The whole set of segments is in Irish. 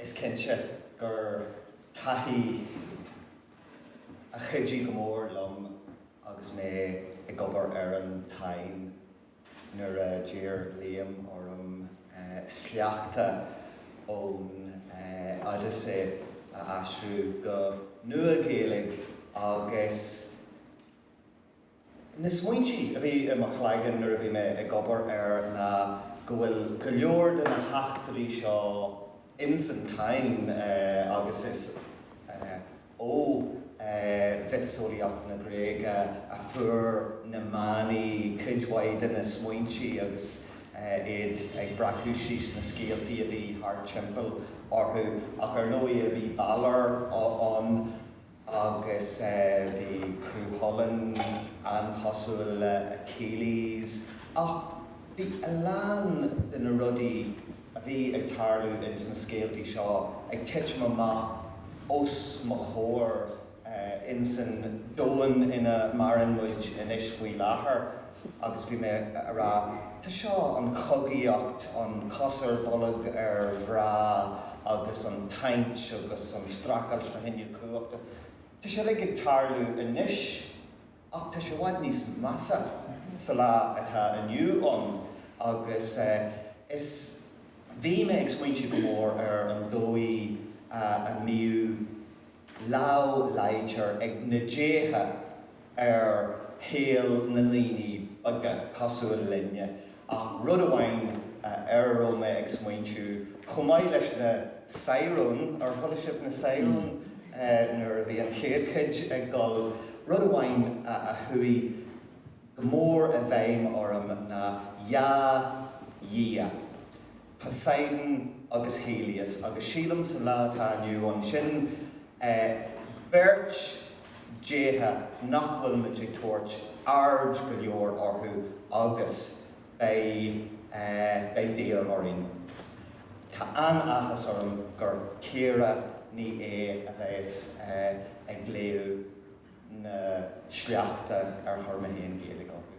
Is cinnte gur taithí a chuidigh go mór liom agus mé ag obair ar an Táin nuair a d'iarr Liam orm sleachta ón Odyssey a aistriú go Nua-Ghaeilge agus, Na smaointí a bhí i mo chloigeann nuair a bhí mé ag obair air ná go bhfuil go leor de na heachtraí seo ins an Táin agus is ó mhiotaseolaíocht na Gréige a fuair na manaigh cuid mhaith de na smaointí agus iad ag breacadh síos na scéaltaí a bhí thart timpeall orthu ach ar ndóigh bhí Balor ann agus bhí Cú Chulainn an-chosúil le Achilles, ach bhí a lán de na rudaí a bhí ag tarlú ins na scéaltaí seo ag titim amach os mo chomhair insan domhan ina maireann muid anois faoi láthair. agus bhí mé a' rá, tá seo, an chogaíocht, an cos ar bolg ar mhná agus an tsaint agus an strácáil is na hinnill chumhachta, tá siad uilig ag tarlú anois ach tá sé i bhfad níos measa sa lá atá inniu ann agus is, bhí mé ag smaointiú go mór ar an dóigh a mbíodh lámh láidir ag na déithe, ar shaol na ndaoine beaga cosúil linne, ach rud amháin ar a raibh mé ag smaointiú, chomh maith leis na Saidhreáin, ar chuala sibh na Saidhreáin nuair a bhí an chéad chuid ag dul? rud amháin a chuaigh go mór i bhfeidhm orm ná 'Dhá Dhia'. Poseidon agus Helios, agus sílim sa lá atá inniu ann sin beirt déithe nach bhfuil muid ag tabhairt aird go leor orthu agus beidh beidh daor orainn. Tá an-áthas orm gur Ciara Ní É a bheas ag léamh na sleachta ar chuir mé féin Gaeilge orthu.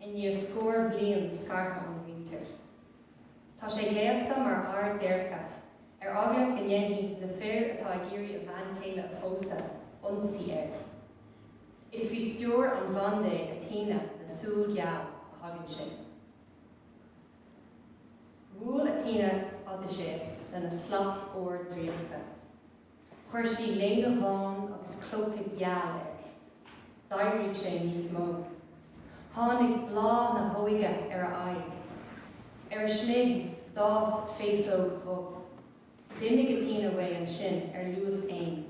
i ndiaidh scór bliain scartha óna mhuintir. Tá sé gléasta mar fhear déirce, ar eagla go ndéanfaidh na fir atá ag iarraidh a bhean chéile a phósadh, ionsaí air. Is faoi stiúir an bhandé, Athena, na súl geal, a thagann sé. Bhuail Athena Odaiséas lena slat óir draíochta. Chuir sí léine bhán agus clóca geal air. D'éirigh sé níos mó. Tháinig bláth na hóige ar a aghaidh. Ar a smig, d'fhás féasóg dhubh. D'imigh Athena uaidh ansin ar luas éin.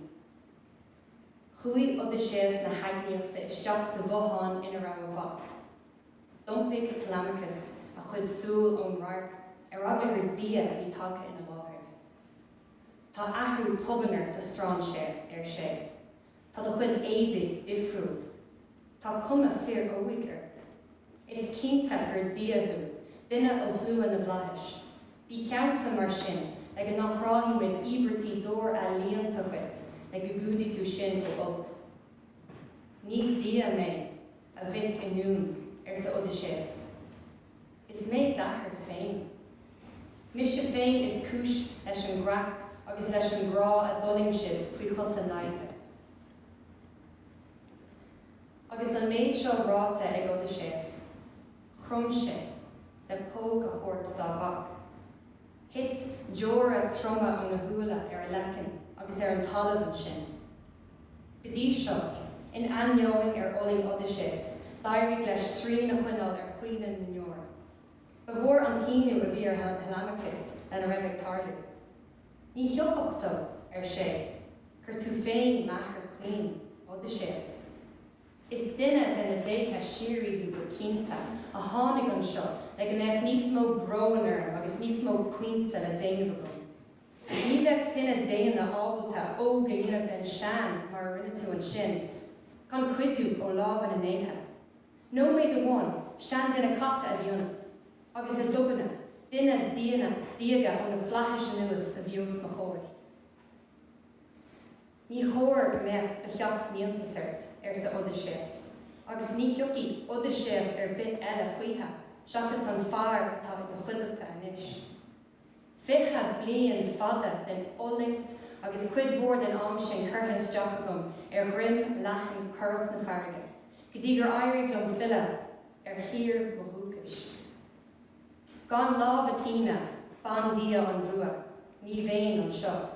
Chuaigh Odaiséas na hEagnaíochta isteach sa bhothán ina raibh a mhac. D'iompaigh Telemachus a chuid súl ón radharc ar eagla gur dia a bhí tagtha ina láthair. Tá athrú tobann ort, a strainséir, ar sé. Tá do chuid éadaigh difriúil. Tá cuma fir óig ort. Is cinnte gur Dia thú, duine ó shlua na bhflaitheas. Bí ceansa, mar sin, le go n-ofráilfidh muid íobairtí d'ór ealaíonta dhuit le go gcumhdaí tú sinn ó olc. Ní Dia mé, a mhic inniúin, arsa Odaiséas. Is mé d'athair féin. Mise féin is cúis leis an gcreach agus leis an gcrá a d'fhulaing sibh faoi chosa naimhde. Agus an méid seo ráite ag Odaiséas, chrom sé le póg a thabhairt dá mhac. Thit deora troma óna shúile ar a leiceann agus ar an talamh ansin. Go dtí seo, in ainneoin ar fhulaing Odaiséas, d'éirigh leis srian a choinneáil ar chaoineadh na ndeor. Ba mhór an t-ionadh a bhí ar Thelemachus lena raibh ag tarlú. Ní thiocfadh dó, ar sé, gur tú féin m'athair caoin, Odaiséas. Is duine de na déithe síoraí thú go cinnte, a tháinig anseo le go mbeadh níos mó bróin orm agus níos mó caointe le déanamh agam. Ní bheadh duine daonna ábalta óg a dhéanamh den sean mar a rinne tú ansin, gan cuidiú ó lámha na ndéithe. Nóiméad amháin, seanduine caite a bhí ionat, agus i dtoibinne, duine daonna diaga ó na flaithis anuas a bhí os mo chomhair. Ní chóir go mbeadh do sheacht n-iontas ort, arsa Odaiséas, agus ní thiocfaidh Odaiséas ar bith eile choíche seachas an fear atá i do chuideachta anois. Fiche bliain fada den fhulaingt agus cuid mhór den am sin curtha isteach agam ar dhroim leathan chorrach na farraige go dtí gur éirigh liom filleadh ar thír mo dhúchais. Gan lámh Athena, bandia an bhua, ní bheinn anseo.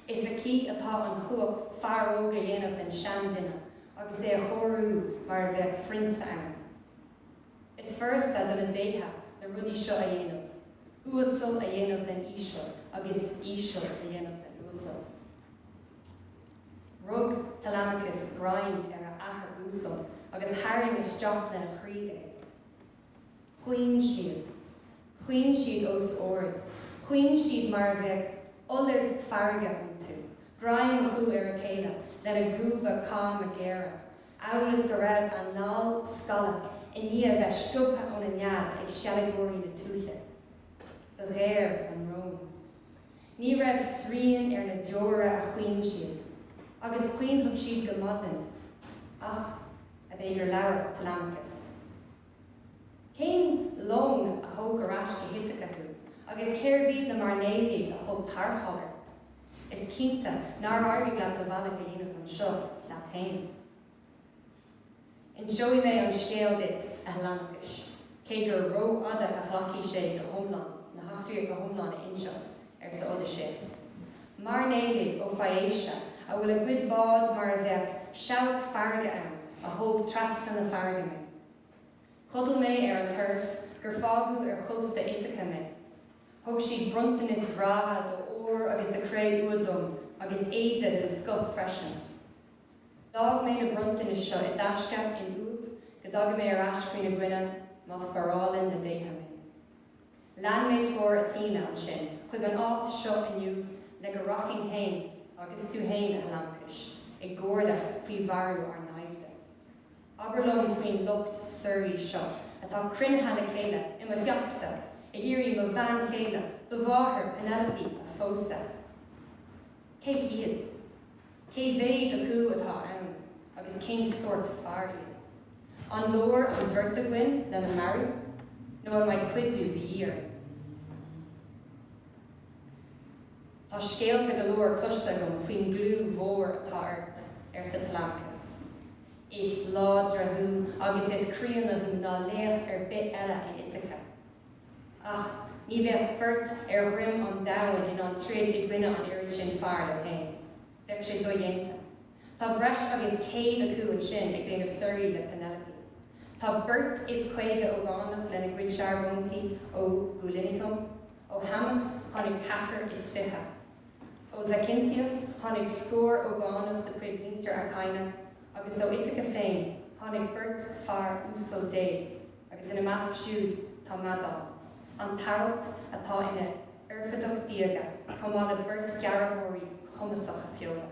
Is aici atá an chumhacht fear óg a dhéanamh den seanduine agus é a chóiriú mar a bheadh prionsa ann. Is furasta do na déithe na rudaí seo a dhéanamh, uasal a dhéanamh den íseal agus íseal a dhéanamh den uasal. Rug Telemachus greim ar a athair uasal agus tharraing isteach lena chroí é. Chaoin siad. Chaoin siad os ard. Chaoin siad mar a bheadh iolar farraige iontu, greim acu ar a chéile lena gcrúba cama géara, amhail is go raibh a n-ál scallta i ndiaidh a bheith sciobtha óna nead ag seilgeoirí na tuaithe. Ba ghéar a mbrón. Ní raibh srian ar na deora a chaoin siad, agus chaoinfeadh siad go maidin, ach ab é gur labhair Telemachus. Cén long a thóg ar ais go hIthaca thú, agus cérbh iad na mairnéalaigh a thug tarrtháil ort? Is cinnte nár éirigh leat do bhealach a dhéanamh anseo leat féin. Inseoidh mé an scéal duit, a Thelemachais, cé gur rófhada a ghlacfadh sé go hiomlán na heachtraí go hiomlán a inseacht, arsa Odysseus. Mairnéalaigh ó Phaeacia a bhfuil a gcuid bád mar a bheadh seabhac farraige ann a thóg trasna na farraige mé. Chodail mé ar an turas gur fágadh ar chósta Ithaca mé. Thug siad bronntanais bhreátha d'ór agus de chré-umha dom agus éide den scoth freisin. D'fhág mé na bronntanais seo i dtaisce in uaimh go dtaga mé ar ais faoina gcoinne má spárálann na déithe mé. Lean mé treoir Athena ansin chuig an áit seo inniu le go rachainn féin agus tú féin, a Thelemachais, i gcomhairle faoi mharú ár naimhde. Abair liom faoin lucht suirí seo atá cruinnithe le chéile i mo theachsa ag iarraidh mo bhean chéile, do mháthair Penelope, a phósadh. Cé hiad? Cé mhéad acu atá ann agus cén sórt fear iad? An leor an bheirt againn lena marú nó an mbeidh cuidiú de dhíth orainn? Tá scéalta go leor cloiste agam faoin gclú mhór atá ort, arsa Telemachus. Is láidre thú agus is críonna thú ná laoch ar bith eile in Ithaca. Ach ní bheadh beirt ar dhroim an domhain in ann troid i gcoinne an oiread sin fear leo fhéin. Bheadh sé dodhéanta. Tá breis agus céad acu ansin ag déanamh suirí le Penelope. Tá beirt is caoga ógánach lena gcuid searbhóntaí ó Dhulichium. Ó Shamos tháinig ceathrar is fiche. Ó Zacynthus tháinig scór ógánach de chuid mhuintir Achaean, agus ó Ithaca féin tháinig beirt fear uasal déag. Agus ina measc siúd tá Medon, an t-aralt atá ina oirfideach diaga chomh maith le beirt ghearrthóirí chumasacha feola.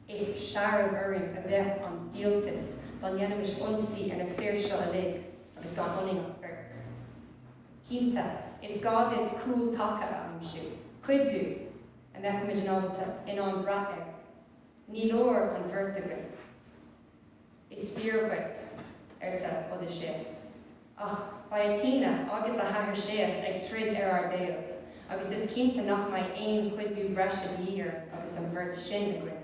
Is searbh orainn a bheadh an díoltas dá ndéanfaimis ionsaí ar na fir seo uilig agus gan ionainn ach beirt. Cinnte, is gá duit cúl taca a aimsiú, cuidiú a mbeadh muid in ábalta in ann brath air. Ní leor an bheirt againn. Is fíor duit, arsa Odaiséas, ach beidh Athena agus a hathair Séas ag troid ar ár dtaobh, agus is cinnte nach mbeidh aon chuidiú breise de dhíth orainn agus an bheirt sin againn.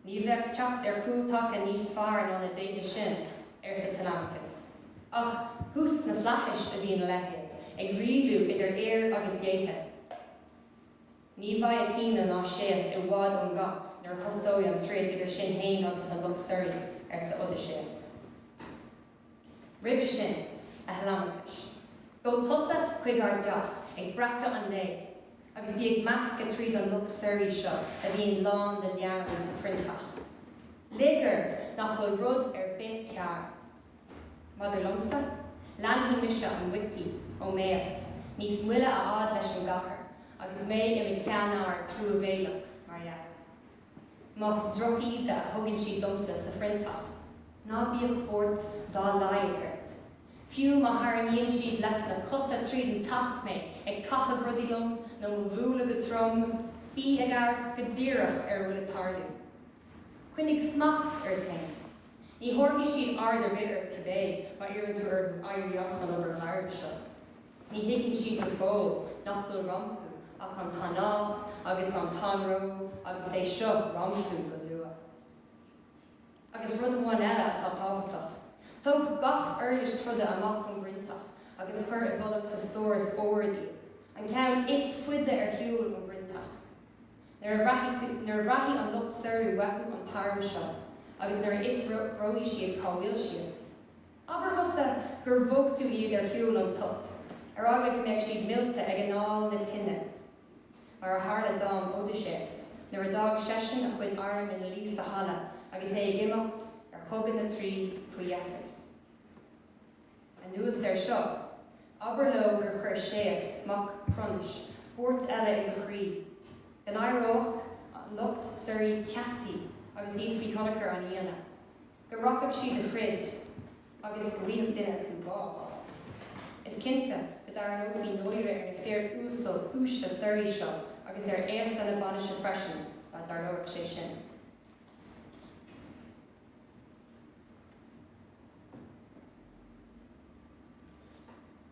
Ní bheadh teacht ar chúl taca níos fearr ná na déithe sin, arsa Telemachus, ach thuas sna flaithis a bhíonn a leithéid ag rialú idir fhir agus dhéithe. Ní bheidh Athena ná Séas i bhfad ón gcath nuair a thosóidh an troid idir sinn fhéin agus an lucht suirí, arsa Odaiséas. Roimhe sin, a Theileamachais, gabh tusa chuig ár dteach ag breacadh an lae agus bí ag meascadh tríd an lucht suirí seo a bhíonn lán de leann sa phroinnteach. Lig ort nach bhfuil rud ar bith cearr. Maidir liomsa, leanfaidh mise an muicí Eumaeus níos moille a fhad leis an gcathair agus mé i mo sheanfhear truamhéileach, mar dhea. Más drochíde a thugann siad domsa sa phroinnteach, ná bíodh buairt dá laghad ort, fiú má tharraingíonn siad leis na cosa tríd an teach mé, ag caitheamh rudaí liom nó do mo bhualadh go trom, bí ag amharc go díreach ar a bhfuil ag tarlú. Coinnigh smacht ort féin. Ní thabharfaidh siad aird ar bith ort cibé má iarrann tú orthu éirí as an obair ghránna seo. Ní thuigfidh siad go fóill nach bhfuil rompu ach an t-anás agus an t-anró agus é seo rompu go luath. Agus rud amháin eile atá tábhachtach. Tóg gach uirlis troda amach ón phroinnteach agus cuir i bhfolach sa stóras ard iad, an ceann is faide ar shiúl ón phroinnteach. Nuair a bhraithfidh an lucht suirí uathu an t-arm seo agus nuair a fhiosróidh siad cá bhfuil siad, abair thusa gur bhog tú iad ar shiúl ón toit, ar eagla go mbeadh siad millte ag anáil na tine, mar a tharla d'arm Odaiséas nuair a d'fhág seisean a chuid airm ina luí sa halla agus é ag imeacht ar chogadh na Traí faoi dheifir. Anuas air seo, abair leo gur chuir Séas mac Cronais buairt eile i do chroí, go n-éireodh an lucht suirí teasaí agus iad faoi thionchar an fhíona, go rachadh siad a throid agus go bhfaigheadh duine acu bás. Is cinnte go dtarraingeofaí náire ar na fir uasal uaisle suirí seo, agus ar fhéasta na bainise freisin, dá dtarlódh sé sin.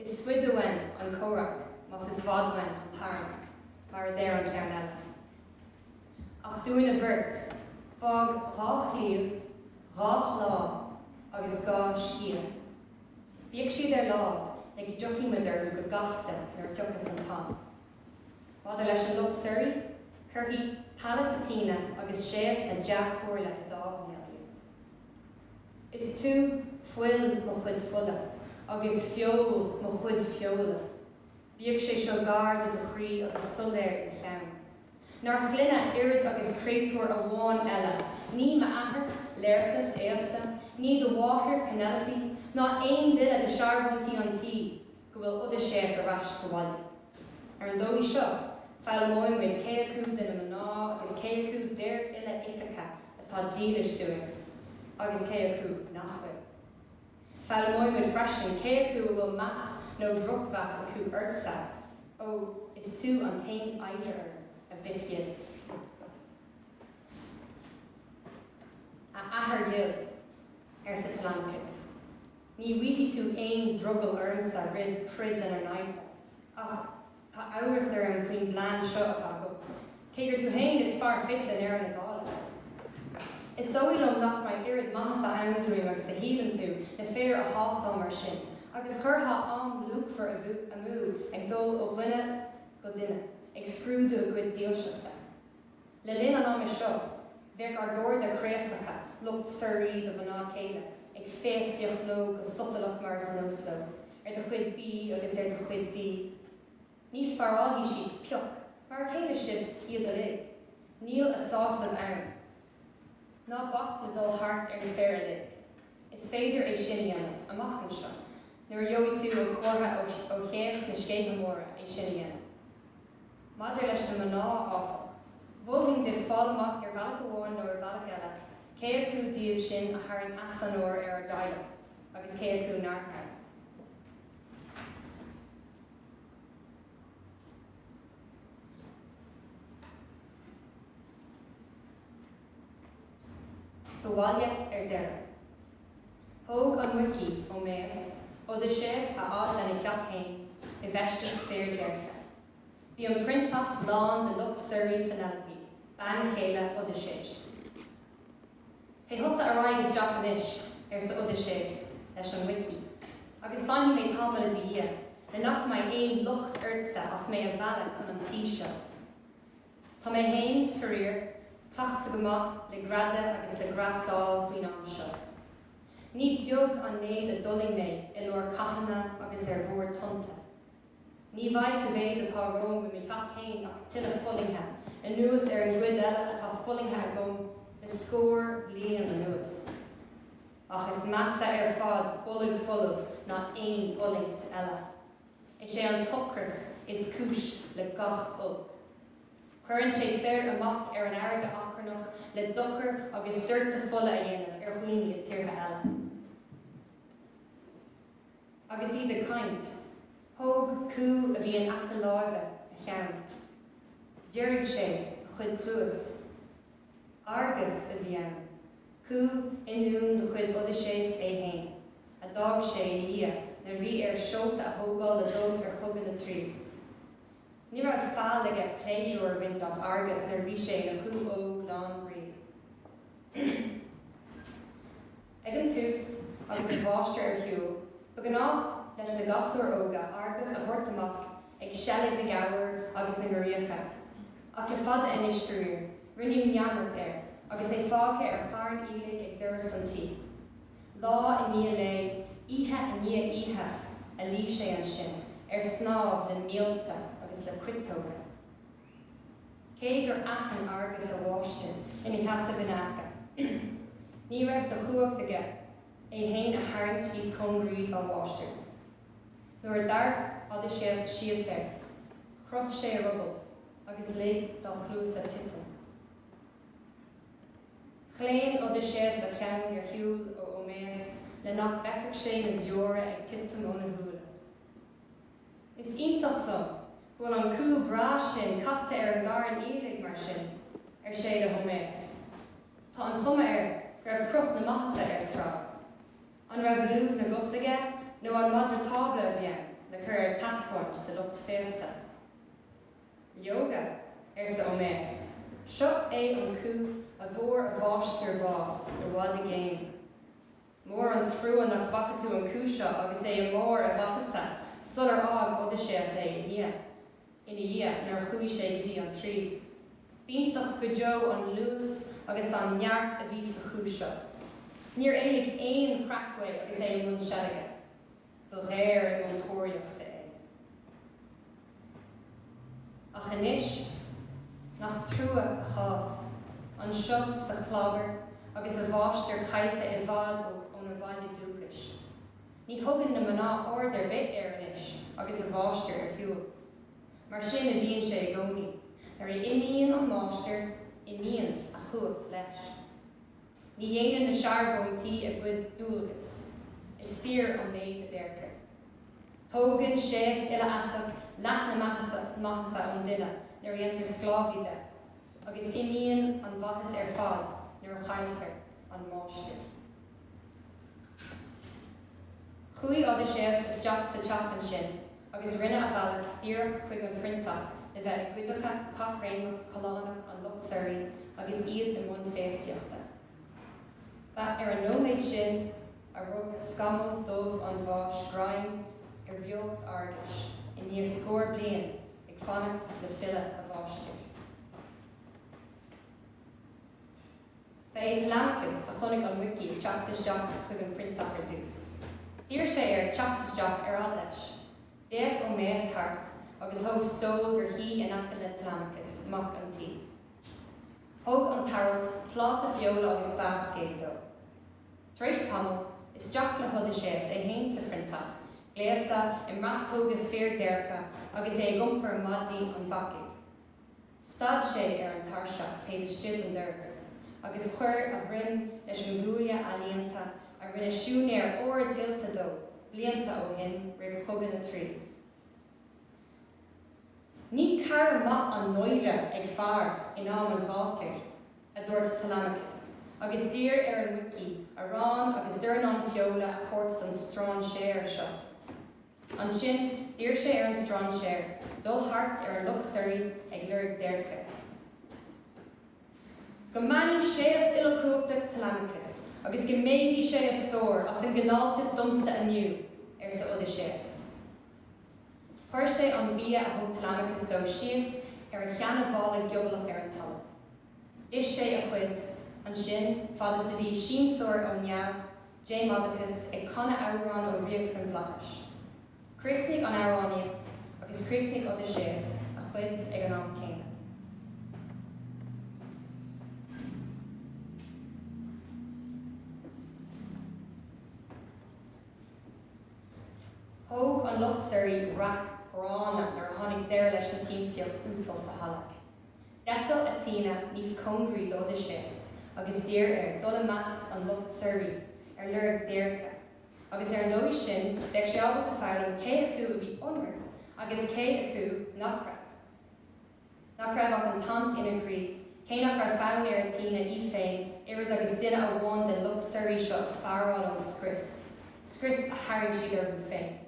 Is faide uainn an comhrac más i bhfad uainn an t-arm, mar a deir an ceann eile. Ach dúinne beirt, fág dhá chlaíomh, dhá shleá agus dhá sciath, bíodh siad ar láimh le go dtiocfadh muid orthu go gasta nuair a thiocfas an t-am. Maidir leis an lucht suirí, cuirfidh Pallas Athena agus Séas na dea-chomhairle i dtámhnéal iad. Is tú fuil mo chuid fola agus feoil mo chuid feola, bíodh sé seo gar do do chroí agus soiléir i do cheann. Nár chluine oiread agus créatúr amháin eile, ní m'athair, Laertes aosta, ní do mháthair, Penelope, ná aon duine de shearbhóntaí an tí, go bhfuil Odaiséas ar ais sa bhaile. Ar an dóigh seo, foghlaimeoidh muid cé acu de na mná agus cé acu d'fhir uile Ítaca atá dílis dúinn, agus cé acu nach bhfuil. Foghlaimeoidh muid freisin cé acu a bhfuil meas nó drochmheas acu ortsa, ó is tú an t-aon oidhre orm, a mhic dhil. A athair dhil, arsa Telemachus. Ní bhfaighidh tú aon drogall ormsa roimh throid lena n-aghaidh, ach tá amhras orm faoin bplean seo atá agat, cé gur tú fhéin is fearr fios i ndeireadh na dála. Is dóigh liom nach mbeidh oiread maitheasa ann dúinn agus a shíleann tú, na fir a thástáil mar sin, agus chuirfeá am luachmhar amú ag dul ó dhuine go duine ag scrúdú a gcuid dílseachta. Le linn an ama seo, bheadh ár gcairde craosacha, lucht suirí do mhná céile, ag féastaíocht leo go sotalach mar is nós leo, ar do chuid bídh agus ar do chuid dí. Ní spárálfaidh siad pioc, mar a chéile sin iad uilig. Níl a sásamh ann. Ná bac le dul thart ar na fir uilig. Is féidir é sin a dhéanamh, amach anseo, nuair a gheobhaidh tú an comhartha ó Shéas na Scéithe Móire é sin a dhéanamh. Maidir leis na mná, áfach, mholfainn duit fáil amach ar bhealach amháin nó ar bhealach eile cé acu díobh sin a tharraing easonóir ar ár dteaghlach agus cé acu nár tharraing. Sa bhaile, ar deireadh. Thóg an muicí, Eoiméas, Odaiséas a fhad lena theach fhéin i bhfeisteas fir déirce. Bhí an proinnteach lán de lucht suirí Phenelope, bean chéile Odaiséis. 'Téigh thusa ar aghaidh isteach anois, arsa Odaiséas leis an muicí, 'agus fanfaidh mé tamall i do dhiaidh, le nach mbeidh aon locht ortsa as mé a mhealladh chun an tí seo. Tá mé féin, faraor, cleachta go maith le greadadh agus le greasáil faoin am seo. Ní beag an méid a d'fhulaing mé i lár cathanna agus ar bharr tonnta. Ní bheidh sa mhéid atá romham i mo theach fhéin ach tuilleadh fulaingthe, anuas ar an gcuid eile atá fulaingthe agam le scór bliain anuas. Ach is measa ar fad bolg folamh ná aon fhulaingt eile. Is é an t-ocras is cúis le gach olc. Cuireann sé fir amach ar an fharraige achrannach le dochar agus doirteadh fola a dhéanamh ar dhaoine i dtíortha eile. agus iad ag caint, thóg cú a bhí in aice láimhe a cheann. Dhírigh sé a chuid cluas. Argus a bhí ann, cú ionúin de chuid Odaiséas é féin, a d'fhág sé ina dhiaidh nuair a bhí air seolta a thógáil le dul ar chogadh na Traí. Ní raibh faill aige pléisiúr a bhaint as Argus nuair a bhí sé ina chú óg lán brí. Ag an tús, agus a mháistir ar shiúl, ba ghnách leis na gasúir óga Argus a thabhairt amach ag seilg na ngabhar agus na ngiorriacha, ach le fada anois, faraor, rinneadh neamart air agus é fágtha ar charn aoiligh ag doras an tí. Lá i ndiaidh lae, oíche i ndiaidh oíche, a luigh sé ansin ar snámh le míolta agus le cuiteoga. Cé gur aithin Argus a mháistir ina sheasamh ina aice, ní raibh de chumhacht aige é féin a tharraingt níos cóngaraí dá mháistir. Nuair a d'amharc Odaiséas síos air, chroith sé a ruball agus lig dá chluasa titim. Chlaon Odaiséas a cheann ar shiúl ó Óiméas le nach bhfeicfeadh sé na deora ag titim óna shúile. Is iontach liom go bhfuil an cú breá sin caite ar an gcarn aoiligh mar sin, ar sé le hÓiméas. Tá an chuma air go raibh cruth na maitheasa air tráth. An raibh lúth na gcos aige nó an madra tábla a bhí ann le cur ar taispeáint do lucht féasta? Leoga, arsa Óiméas, seo é an cú a bhfuair a mháistir bás i bhfad i gcéin. Mór an trua nach bhfaca tú an cú seo agus é i mbarr a mhaitheasa sular fhág Odaiséas é ina dhiaidh, nuair a chuaigh sé go dtí an Traí. B'iontach go deo an luas agus an neart a bhí sa chú seo. Níor éalaigh aon chreach uaidh agus é i mbun seilge. ba ghéar chun na tóraíochta é. Ach anois, nach trua a chás, anseo sa chlábar agus a mháistir caillte i bhfad óna bhaile dúchais. Ní thugann na mná aird ar bith air anois agus a mháistir ar shiúl. Mar sin a bhíonn sé i gcónaí, nuair a imíonn an máistir, imíonn a chumhacht leis. Ní dhéanann na searbhóntaí a gcuid dualgas. Is fíor an méid a deirtear. Tógann Séas Uilefheasach leath na maitheasa, maitheasa ón duine nuair a dhéantar sclábhaí de, agus imíonn an mhaitheas ar fad nuair a chailltear an máistir. Chuaigh Odaiséas isteach sa teach ansin. agus rinne a bhealach díreach chuig an phroinnteach le bheith i gcuideacha caithréimeach callánach an lucht suirí agus iad i mbun féastaíochta. Ba ar an nóiméad sin a rug scamall dubh an bháis greim ar bheocht Argais i ndiaidh scór bliain ag fanacht le filleadh a mháistir. Ba é Telemachus a chonaic an muicí ag teacht isteach chuig an phroinnteach ar dtús. D'iarr sé air teacht isteach ar fad leis. D'fhéach Eumaeus thart agus thóg stól gur shuigh in aice le Telemachus, mac an tí. Thug an t-aralt pláta feola agus bascaed dó. Tar éis tamaill, isteach le hOdaiséas é féin sa phroinnteach, gléasta i mbratóga fir déirce agus é ag iompar maide an bhacaigh. Stad sé ar an tairseach taobh istigh den doras agus chuir a dhroim leis an gcuaille ealaíonta a rinne siúinéir ardoilte dó blianta ó shin roimh Chogadh na Traí. Ní cara maith an náire ag fear in am an ghátair, a dúirt Telemachus agus d'iarr ar an muicí arán agus dornán feola a thabhairt don strainséir seo. Ansin d'iarr sé ar an strainséir dul thart ar an lucht suirí ag lorg déirce. Go mbeannaí Séas Uilechumhachtach Telemachus agus go méadaí sé a stór as an gcineáltas domsa inniu! arsa Odaiséas. Chuir sé an bia a thug Telemachus dó síos ar a sheanmhála giobalach ar an talamh. D'ith sé a chuid ansin, fad is a bhí siamsóir ó Neamh, Demodocus, ag canadh amhrán ó ríocht na bhflaitheas, chríochnaigh an amhránaíocht agus chríochnaigh Odaiséas a chuid ag an am céanna. Thóg an lucht suirí raic ghránna nuair a tháinig deireadh leis an tsiamsaíocht uasal sa halla. D'eitil Athena níos cóngaraí d'Odaiséas agus d'iarr air dul i measc an lucht suirí ar lorg déirce, agus ar an dóigh sin bheadh sé ábalta foghlaim cé acu a bhí ionraic agus cé acu nach raibh, nach raibh ach an tsaint ina chroí, cé nach raibh fonn ar Athena í féin oiread agus duine amháin den lucht suirí seo a spáráil ón scrios, scrios a tharraing siad orthu féin.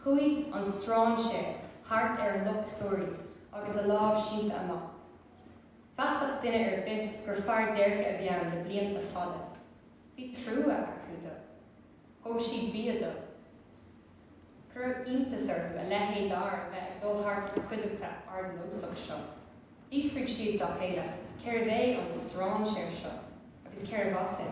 Chuaigh an strainséir thart ar a lucht suirí agus a lámh sínte amach. Mheasfadh duine ar bith gur fear déirce a bhí ann le blianta fada. Bhí trua acu dó. Thóg siad bia dó. Cuireadh iontas orthu a leithéid d'fhear a bheith ag dul thart sa chuideachta ardnósach seo. D'fhiafraigh siad dá chéile cérbh é an strainséir seo agus cérbh as é.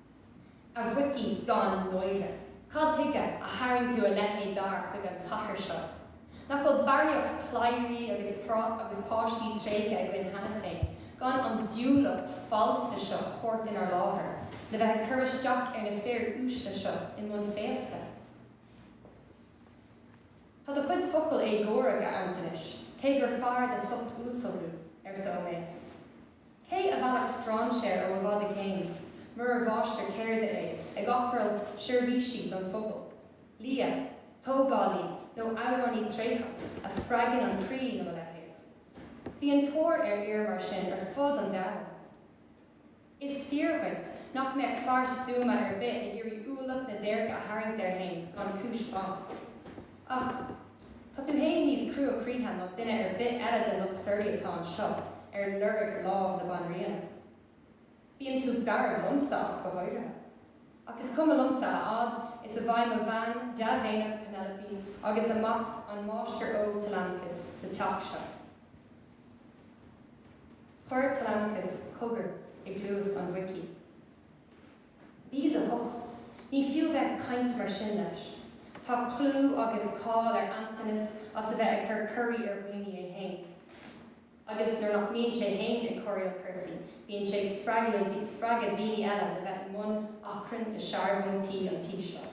A mhuicí gan náire, cad tuige a tharraing tú a leithéid d'fhear chuig an chathair seo? Nach bhfuil barraíocht cladhairí agus páistí tréigthe againn cheana féin gan an diúlach falsa seo a thabhairt inár láthair le bheith ag cur isteach ar na fir uaisle seo i mbun féasta? Tá do chuid focal éagórach, a Antonis, cé gur fear den lucht uasal thú, arsa Eumaeus. Cé a mheallfadh strainséir ó i bhfad i gcéin, murar mháistir ceirde é, ag ofráil seirbhísí don phobal? Lia, tógálaí nó amhránaí tréitheach a spreagann an croí nó a leithéid? Bíonn tóir ar fhir mar sin ar fud an domhain. Is fíor dhuit nach mbeadh fear stuama ar bith ag iarraidh ualach na déirce a tharraingt air fhéin gan chúis mhaith. Ach tá tú fhéin níos cruachroíche ná duine ar bith eile den lucht suirí atá anseo ar lorg lámh na Banríona. Bíonn tú garbh liomsa ach go háirithe. Ach is cuma liomsa a fhad is a bheidh mo bhean dea-mhéineach Penelope agus a mac an máistir óg Telemachus sa teach seo. Chuir Telemachus cogar i gcluas an mhuicí. Bí i do thost, ní fiú a bheith ag caint mar sin leis. Tá clú agus cáil ar Antanas as a bheith ag cur corraí ar dhaoine é féin. Agus nuair nach mbíonn sé féin ag corraíl cúrsaí, bíonn sé ag spreagadh daoine eile le bheith i mbun achrainn i searbhóntaí an tí seo.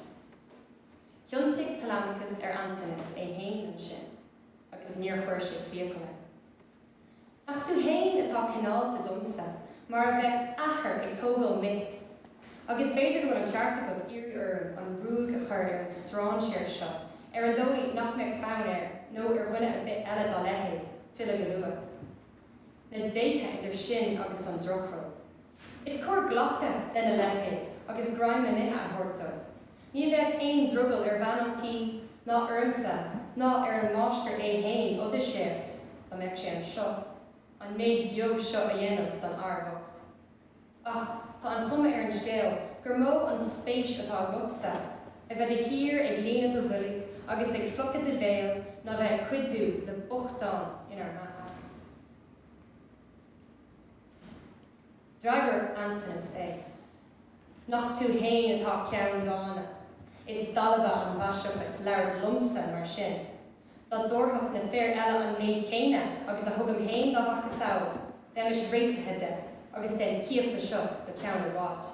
Thiontaigh Telemachus ar Antanas é féin ansin agus níor chuir sé fiacail air. Nach tú fhéin atá cineálta liomsa, mar a bheadh athair ag tógáil mic, agus b'fhéidir go bhfuil an ceart agat iarraidh orm an ruaig a chur ar an strainséir seo, ar an dóigh nach mbeadh fonn air, nó ar dhuine ar bith eile dá leithéid, filleadh go luath. Na déithe idir sinn agus an drochród! Is cóir glacadh lena leithéid agus greim le n-ithe a thabhairt dó. Ní bheadh aon drogall ar bhean an tí, ná ormsa, ná ar an máistir é fhéin, Odaiséas, dá mbeadh sé anseo, an méid beag seo a dhéanamh don fhear bocht. Ach tá an chuma ar an scéal gur mó an spéis atá agatsa a bheith de shíor ag líonadh do bhoilg agus ag fliuchadh do bhéil ná bheith ag cuidiú le bochtáin inár measc. D'fhreagair Antinous é. Nach tú fhéin atá ceanndána. Is dalba an mhaise dhuit labhairt liomsa mar sin. Dá dtabharfadh na fir eile an méid céanna agus a thugaim fhéin dá mhacasamhail, bheimis réitithe de, agus den chiapadh seo, go ceann i bhfad.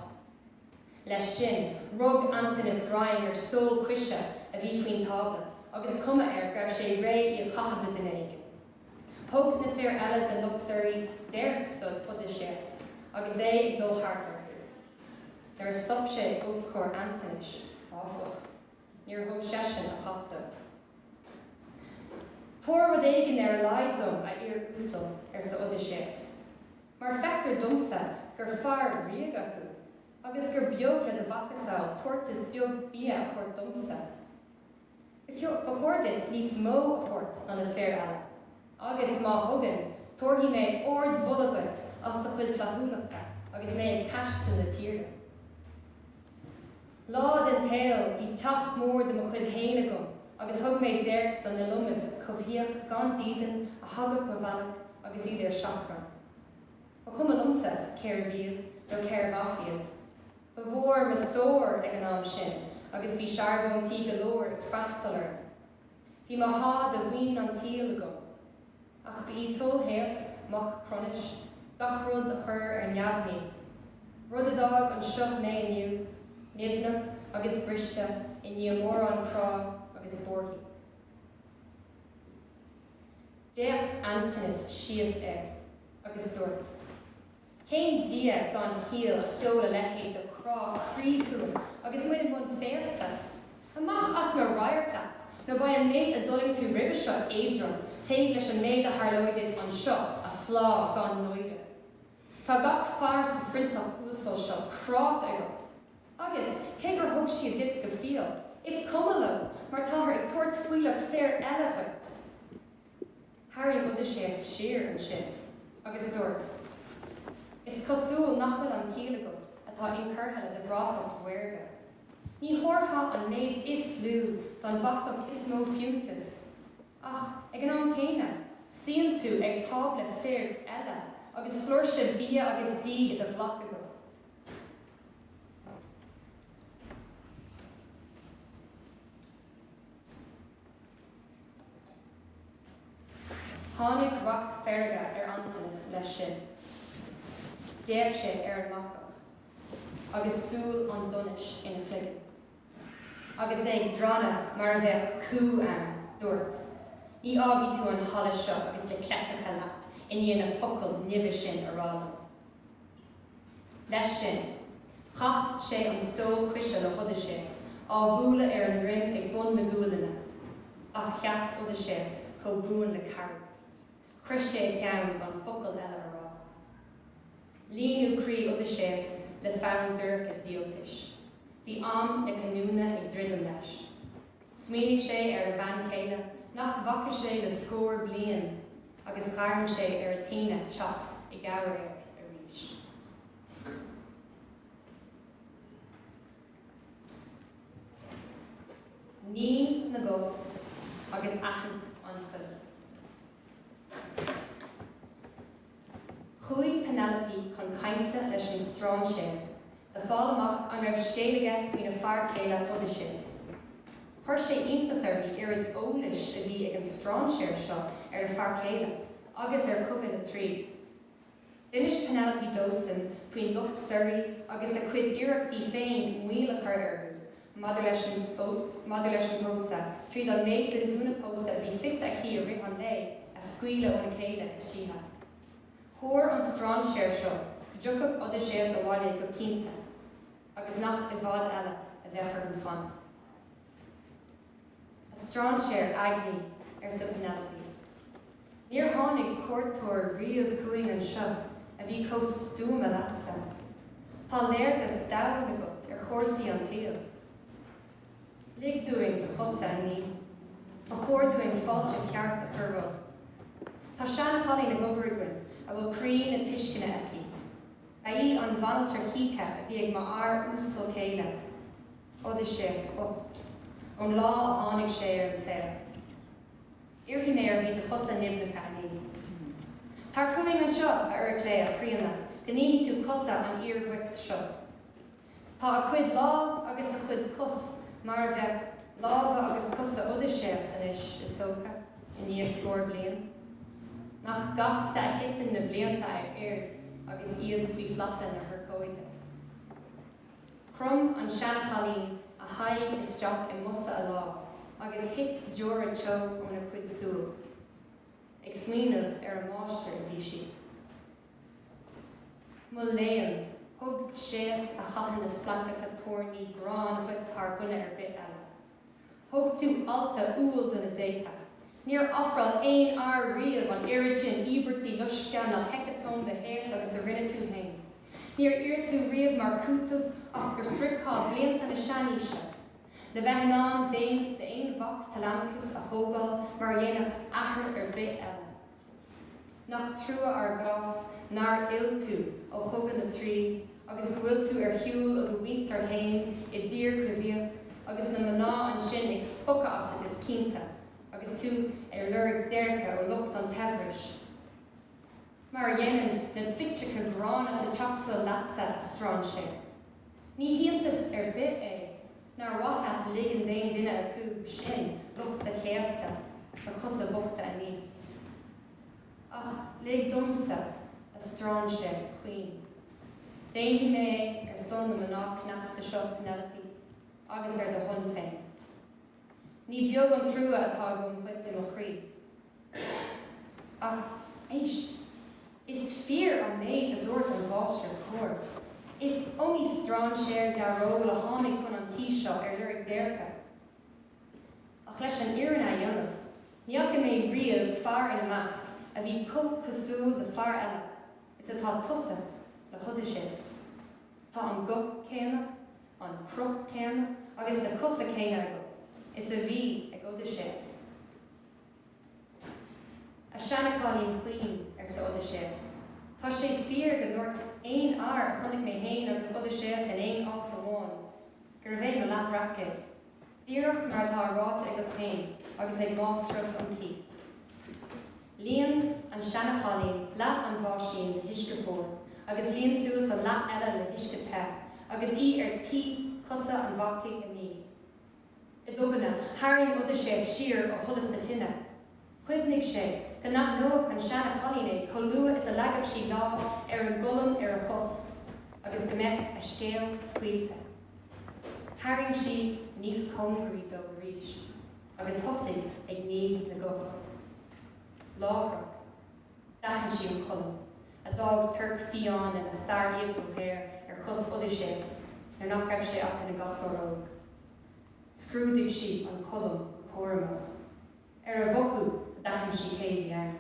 Leis sin, rug Antinous greim ar stól coise a bhí faoin tábla, agus cuma air go raibh sé réidh í a chaitheamh le duine éigin. Thug na fir eile den lucht suirí déirc do Odaiséas agus é ag dul thart orthu. Nuair a stop sé os comhair Antinous, áfach, níor thug seisean a dhath dó. Tabhair rud éigin ar a laghad dom, a fhir uasail, arsa Odaiséas, mar feictear domsa gur fear ríoga thú, agus gur beag le do mhacasamhail tabhartas beag bia a thabhairt domsa. Ba chóir duit níos mó a thabhairt ná na fir eile. Agus má thugann, tabharfaidh mé ardmholadh duit as do chuid flaithiúlachta agus mé ag taisteal na dtíortha. Lá den tsaol, bhí teach mór de mo chuid féin agam agus thug mé déirc don iliomad coimhthíoch gan dídean a thagadh mo bhealach agus iad ar seachrán. Ba chuma liomsa cérbh iad nó cérbh as iad. Ba mhór mo stór ag an am sin agus bhí searbhóntaí go leor ag freastal orm. Bhí mo sháith de mhaoin an tsaoil agam. Ach ba í toil Shéas, mac Chronais, gach rud a chur ar neamhní, rud a d'fhág anseo mé inniu, nimhneach agus briste i ndiaidh mórán crá agus buarthaí. D'fhéach Antinous síos air agus dúirt. Cén Dia gan chiall a sheol a leithéid de chrá croí chugainn agus muid i mbun féasta? Amach as mo radharc leat, nó beidh an méid a d'fhulaing tú roimhe seo éadrom taobh leis an méid a tharlóidh duit anseo, a phlá gan náire. Tá gach fear sa phroinnteach uasal seo cráite agat. Agus, cé gur thug siad duit go fial, is cuma leo, mar táthar ag tabhairt fuílleach fir eile dhuit. Tharraing Odaiséas siar ansin agus dúirt, Is cosúil nach bhfuil an chiall agat atá incurtha le do bhreáthacht mhaorga. Ní thabharfá an méid is lú don bhacach is mó fiúntais, ach ag an am céanna, suíonn tú ag tábla fir eile agus flúirse bia agus dí i do ghlac agat. Tháinig racht feirge ar Antinous leis sin. D'fhéach sé ar an mbacach agus súil an donais ina chloigeann. Agus é ag drannadh mar a bheadh cú ann, dúirt, Ní fhágfaidh tú an halla seo agus na cleiteacha leat i ndiaidh na focail nimhe sin a rá liom. Leis sin, chaith sé an stól coise le hOdaiséas, á bhualadh ar a dhroim ag bun na gualainne. Ach sheas Odaiséas chomh buan le carraig. Chroith sé a cheann gan focal eile a rá. Líonadh croí Odaiséas le fonn dorcha díoltais. Bhí am na cinniúna ag druidim leis. Smaoinigh sé ar a bhean chéile nach bhfaca sé le scór bliain. agus ghairm sé ar Athena teacht i gcabhair air arís. Ní na gcos agus aithint an choilm. Chuaigh Penelope chun cainte leis an strainséir. le fáil amach an raibh scéal aige faoina fear céile Odaiséas. Chuir sé iontas uirthi oiread eolais a bhí ag an strainséir seo ar a fear céile agus ar Chogadh na Traí. D'inis Penelope dósan faoin lucht suirí agus a cuid iarrachtaí féin moill a chur orthu maidir leis an bpósadh, tríd an méid den ghúna pósta a bhí fite aici i rith an lae a scaoileadh óna chéile istoíche. Thuar an strainséir seo go dtiocfadh Odaiséas abhaile go cinnte agus nach i bhfad eile a bheadh orthu fanacht. A strainséir eagnaí, arsa Penelope, níor tháinig cuairteoir riamh chugainn anseo a bhí chomh stuama leatsa. Tá léargas domhain agat ar chúrsaí an tsaoil. Lig dúinn do chosa a ní. Ba chóir dúinn fáilte cheart a chur romhat. Tá seanchailín ag obair againn a bhfuil croí na tuisceana aici. Ba í an bhanaltra chíche a bhí ag m'fhear uasal céile, Odaiséas bocht, ón lá a tháinig sé ar an saol. Iarrfaidh mé uirthi do chosa nimhneacha a ní. Tar chugainn anseo, a Eurycleia chríonna, go nífidh tú cosa an fhir bhoicht seo. Tá a chuid lámh agus a chuid cos mar a bheadh lámha agus cosa Odaiséas anois, is dócha, i ndiaidh scór bliain. Nach gasta a thiteann na blianta ar fhir agus iad faoi shlata na hurchóide. Chrom an seanchailín a haghaidh isteach i mbosa a lámh agus thit deora teo óna cuid súl. Ag smaoineamh ar a máistir a bhí sí. Mo léan, thug Séas a chaitheann na splancacha toirní gráin dhuit thar dhuine ar bith eile. Thug tú altú umhal do na déithe. Níor ofráil aon fhear riamh an oiread sin íobairtí loiscthe ná heiceatóm do Shéas agus a rinne tú féin. Níor iarr tú riamh mar chúiteamh ach go sroichfeá blianta na seanaoise, le bheith in ann d'aon mhac Telemachus a thógáil mar a dhéanfadh athair ar bith eile. Nach trua ár gcás nár fhill tú ó chogadh na Traí agus go bhfuil tú ar shiúl ó do mhuintir fhéin i dtír coimhthíoch agus na mná ansin ag spochadh asat is cinnte agus tú ar lorg déirce ó lucht an tsaibhris, mar a dhéanann na bitseacha gránna sa teach seo leatsa, a strainséir. Ní hiontas ar bith é. Nár mhaith leat ligean d'aon duine acu sin lucht do chéasta, do chosa bochta a ní? Ach lig domsa, a strainséir chaoin. Déanfaidh mé é, ar son na mná cneasta seo, Penelope, agus ar do shon féin. Ní beag an trua atá agam dhuit, i mo chroí. Sea, ach éist, is fíor an méid a dúirt an mháistreás chóir, is iomaí strainséir dearóil a tháinig chun an tí seo ar lorg déirce. Ach leis an fhírinne a dhéanamh, ní fhaca mé riamh fear ina measc a bhí chomh cosúil le fear eile is atá tusa le hOdaiséas. Tá an guth céanna, an cruth céanna agus na cosa céanna agat is a bhí ag Odaiséas. A sheanchailín chaoin, arsa Odaiséas, tá sé fíor go ndúirt aon fhear a chonaic mé féin agus Odaiséas in aon áit amháin, gurbh é mo leathbhreac é, díreach mar atá ráite agat féin agus ag máistreás an tí. Líon an seanchailín leath an bháisín le huisce fuar agus líon suas an leath eile le huisce te, agus í ar tí cosa an bhacaigh a ní. I dtobainne, tharraing Odaiséas siar ó sholas na tine. Chuimhnigh sé go n-aithneodh an seanchailín é chomh luath is a leagfadh sí lámh ar an gcolm ar a chos, agus go mbeadh a scéal scaoilte. Tharraing sí níos cóngaraí dó arís, agus thosaigh ag ní na gcos. Láithreach. D'aithin sí an colm, a d'fhág torc fiáin lena starrfhiacail ghéar ar chos Odaiséas nuair nach raibh sé ach ina gasúr óg. Scrúdaigh sí an colm go cúramach. Ar a mhothú, d'aithin sí cé bhí ann.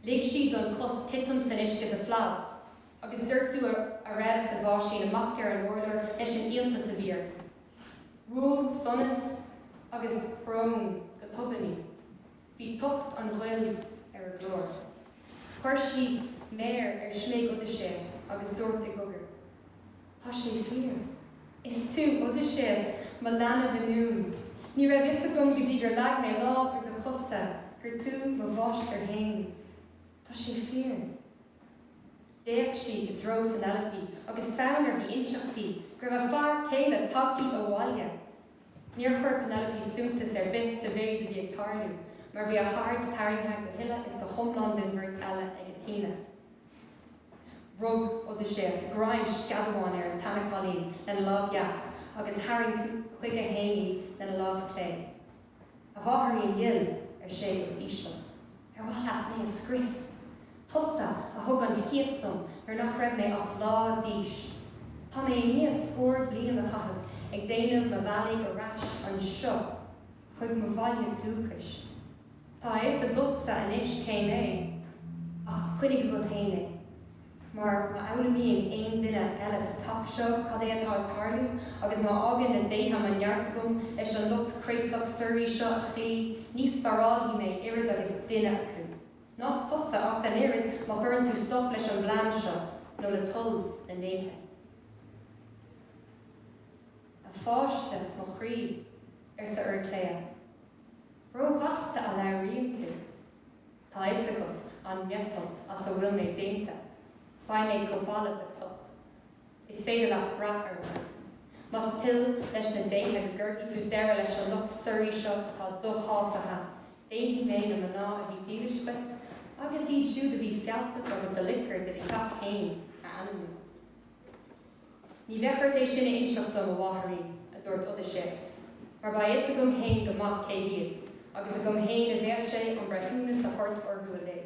Lig sí don chos titim san uisce de phlab, agus doirteadh a raibh sa bháisín amach ar an urlár leis an iontas a bhí uirthi. Bhuail sonas agus brón go tobann í. Bhí tocht an ghoil ar a glór. Chuir sí méar ar smig Odaiséas agus dúirt i gcogar, Tá sé fíor. Is tú Odaiséas, mo leanbh ionúin. Ní raibh fhios agam go dtí gur leag mé lámh ar do chosa gur tú mo mháistir féin. Tá sé fíor. D'fhéach sí i dtreo Phenelope agus fonn uirthi inseacht di go raibh a fear céile tagtha abhaile. Níor chuir Penelope suntas ar bith sa mhéid a bhí ag tarlú mar bhí a haird tarraingthe go huile is go hiomlán den bheirt eile ag Athena. Rug Odaiséas greim sceadamáin ar an tseanchailín lena lámh dheas agus tharraing chuige féin í lena lámh chlé. A mháithrín dhil, ar sé os íseal. Ar mhaith leat mé a scrios? Tusa a thug an chíoch dom nuair nach raibh mé ach lá d'aois. Tá mé i ndiaidh scór bliain a chaitheamh ag déanamh mo bhealaigh ar ais anseo chuig mo bhaile dúchais. Tá a fhios agatsa anois cé mé, ach coinnigh agat féin é. mar má fhoghlaimíonn aon duine eile sa teach seo cad é atá ag tarlú agus má fhágann na déithe mo neart agam leis an lucht craosach suirí seo a chloí, ní spárálfaidh mé oiread agus duine acu. Ná tusa ach an oiread má chuireann tú stop leis an bplean seo, nó le toil na ndéithe. A pháiste mo chroí, arsa Iúircléa. Róghasta a labhraíonn tú. Tá a fhios agat an miotal as a bhfuil mé déanta, beidh mé chomh balbh le cloch. Is féidir leat brath orm. Más toil leis na déithe go gcuirfidh tú deireadh leis an lucht suirí seo atá doshásaithe, déanfaidh mé na mná a bhí dílis dhuit, agus iad siúd a bhí fealltach agus a loic ort i do theach féin, a ainmniú. Ní bheidh ort é sin a inseacht dom, a mháithrín, a dúirt Odaiséas, mar beidh a fhios agam féin go maith cé hiad, agus agam féin a bheas sé an breithiúnas a thabhairt orthu uilig.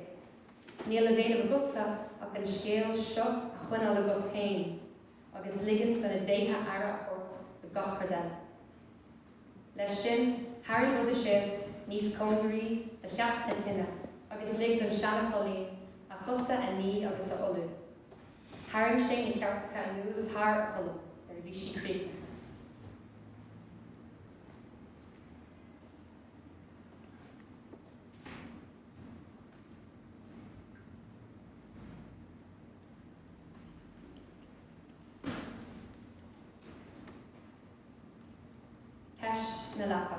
Níl le déanamh agatsa ach an scéal seo a choinneáil agat féin, agus ligean do na déithe aire a thabhairt do gach rud eile. Leis sin, tharraing Odaiséas níos cóngaraí do theas na tine agus lig don seanchailín a chosa a ní agus a olú. Tharraing sé na ceirteacha anuas thar an cholm nuair a bhí sí críochnaithe. Teist na leapa.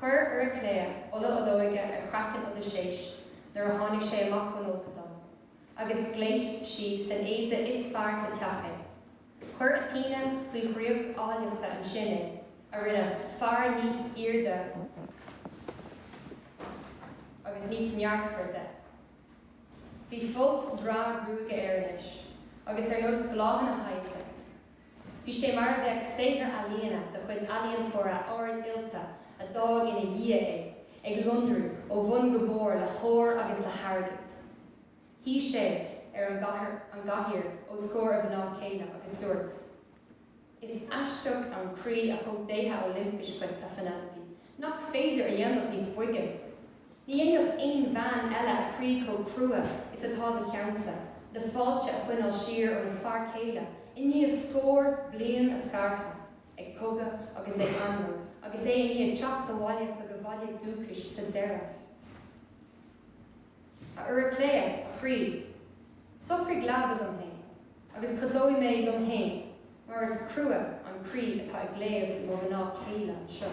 Chuir Iúircléa ola olóige ar chraiceann Odaiséis nuair a tháinig sé amach ón fholcadán, agus ghléas sí san éide is fearr sa teach é. Chuir Athena faoi dhraíocht áilleachta ansin é, a rinne fear níos airde agus níos neartmhaire de. Bhí folt breá gruaige air anois, agus ar nós bláthanna shaghaise. Bhí sé mar a bheadh saothar ealaíona de chuid ealaíontóra ard-oilte a d'fhág ina dhiaidh é, ag lonrú ó bhun go barr le hór agus le hairgead. Shuigh sé ar an gcathaoir os comhair a mhná céile agus dúirt, Is aisteach an croí a thug déithe Oilimpeas dhuit, a Phenelope, Nach féidir a dhéanamh níos boige? Ní dhéanfadh aon bhean eile a croí chomh crua is atá do cheannsa, le fáilte a choinneáil siar óna fear céile i ndiaidh scór bliain a scartha ag cogadh agus ag anró agus é i ndiaidh teacht abhaile chuig a bhaile dúchais sa deireadh. A Iúraicléa, a chroí, socraigh leaba dom féin agus codlóidh mé liom féin mar is crua an croí atá i gcliabh mo mhná céile anseo.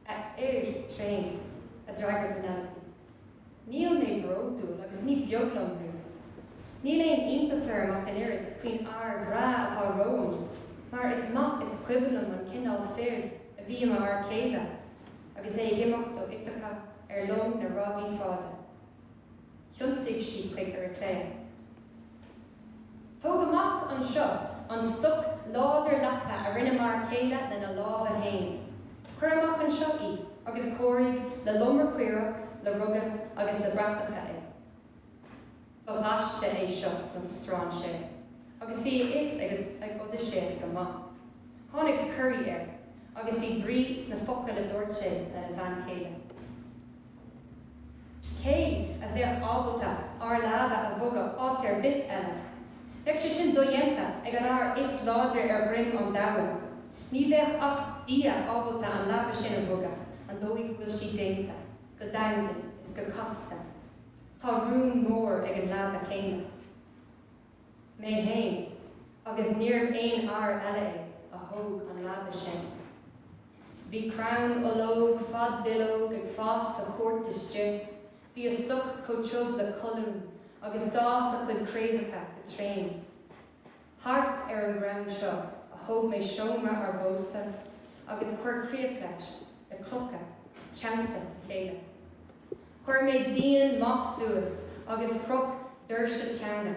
A fhir thréin, a d'fhreagair Penelope, níl mé bródúil agus ní beag liom thú. Níl aon iontas orm ach an oiread faoin fhear bhreá atá romham mar is maith is cuimhin liom an cineál fir a bhí i m'fhear céile. agus é ag imeacht ó Iteaca ar long na rámhaí fada. Thiontaigh sí chuig Iúraicléa. Tóg amach anseo an stoc láidir leapa a rinne m'fhear céile lena lámha fhéin. Cuir amach anseo í agus cóirigh le lomra caorach, le ruga agus le bratacha é. Ba ghaiste é seo don strainséir agus bhí a fhios ag Odaiséas go maith. Tháinig corraí air agus bhí brí sna focail a dúirt sé lena bhean chéile. Cé a bheadh ábalta ár leaba a bhogadh áit ar bith eile? Bheadh sé sin dodhéanta ag an fhear is láidre ar dhroim an domhain. Ní bheadh ach Dia ábalta an leaba sin a bhogadh, an dóigh go bhfuil sí déanta, go daingean is go casta. Tá rún mór ag an leaba céanna. Mé fhéin, agus níorbh aon fhear eile é, a thóg an leaba sin. Bhí crann ológ fad-duilleog ag fás sa chúirt istigh, bhí a stoc chomh tiubh le colún agus d'fhás a chuid craobhacha go tréan. Thart ar an gcrann seo a thóg mé seomra ár bpósta agus chuir críoch leis, le clocha teannta a chéile. Chuir mé díon maith suas agus chroch doirse teanna.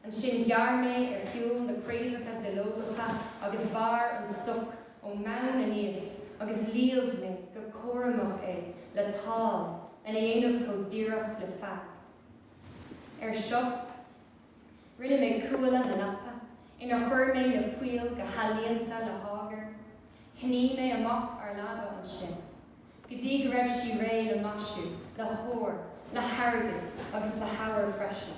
Ansin ghearr mé ar shiúl na craobhacha duilleogacha agus bhearr an stoc ón mbonn aníos agus líomh mé go cúramach é le tál lena dhéanamh chomh díreach le feag. Ar seo, Rinne mé cuaille na leapa inar chuir mé na poill go healaíonta le hágar. Shnoí mé amach ár leaba ansin go dtí go raibh sí réidh le maisiú, le hór, le hairgead agus le heabhar freisin.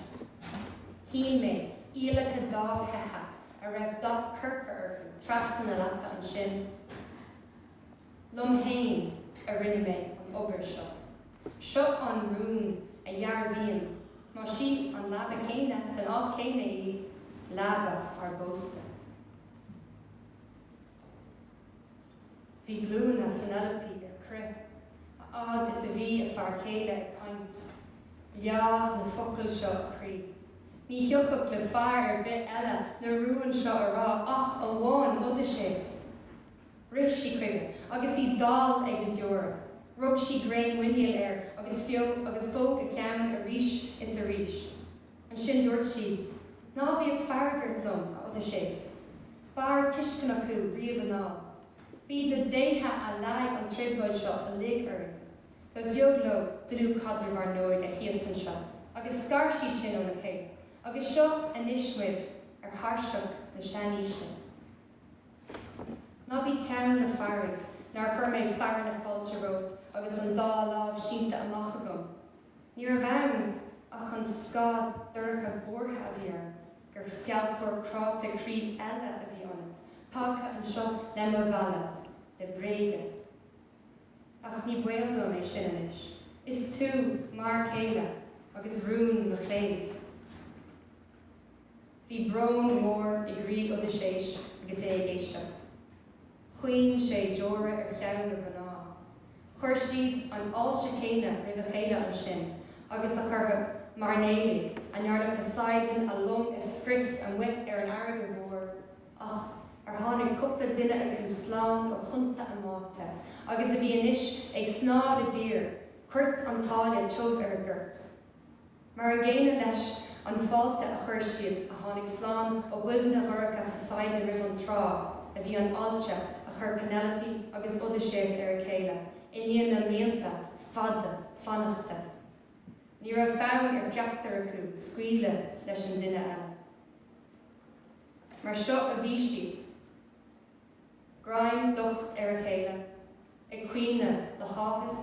Shín mé iallacha dá seithe a raibh dath corcra orthu trasna na leapa ansin. Liom fhéin a rinne mé an obair seo. Seo an rún a dhearbhaíonn má sí an leaba chéanna san áit chéanna í, leaba ár bpósta. Bhí glúine Phenelope ar crith, fhad is a bhí a fear céile ag caint. Leá na focail seo a croí. Ní thiocfadh le fear ar bith eile na rúin seo a rá, ach amháin Odaiséas. Rith sí chuige agus í dall ag na deora. Rug sí greim muiníl air agus phóg a cheann arís is arís. Ansin dúirt sí, Ná bíodh fearg ort liom, a Odaiséas. B'fhearr tuiscint acu riamh anall. B'iad na déithe a leag an trioblóid seo uilig orainn. Ba bheag leo dlúthchaidreamh, ár n-óige thíos anseo, agus scar siad sinn óna chéile, agus seo anois muid ar thairseach na seanaoise. Ná bí teann na feirge nár chuir mé fearadh na fáilte romhat agus an dá láimh sínte amach agam. Ní raibh ann ach an scáth dorcha buartha a bhí orm gur fealltóir cráite croí eile a bhí ionat, tagtha anseo le mo mhealladh le bréaga. Ach ní baol dom é sin anois, is tú m'fhear céile agus rún mo chléibh. Bhí brón mór i gcroí Odaiséis agus é ag éisteacht. Chaoin sé deora ar cheann a mhná. Chuir siad an fháilte chéanna roimh a chéile ansin agus a chuirfeadh mairnéalaigh a ndearnadh Poseidon a long a scrios amuigh ar an fharraige mhór, ach ar tháinig cúpla duine acu slán ó thonnta a mbáite agus a bhí anois ag snámh i dtír, coirt an tsáile tiubh ar a gcorp. Mar an gcéanna leis an fáilte a chuir siad a tháinig slán ó bhuille dhorcha Phoseidon roimh an trá a bhí an fháilte a chuir Penelope agus Odysseus roimh a chéile i ndiaidh na mblianta fada fanachta. Ní raibh fonn ar cheachtar acu scaoileadh leis an duine eile. Mar seo a bhí siad, greim docht ar a chéile, ag caoineadh le háthas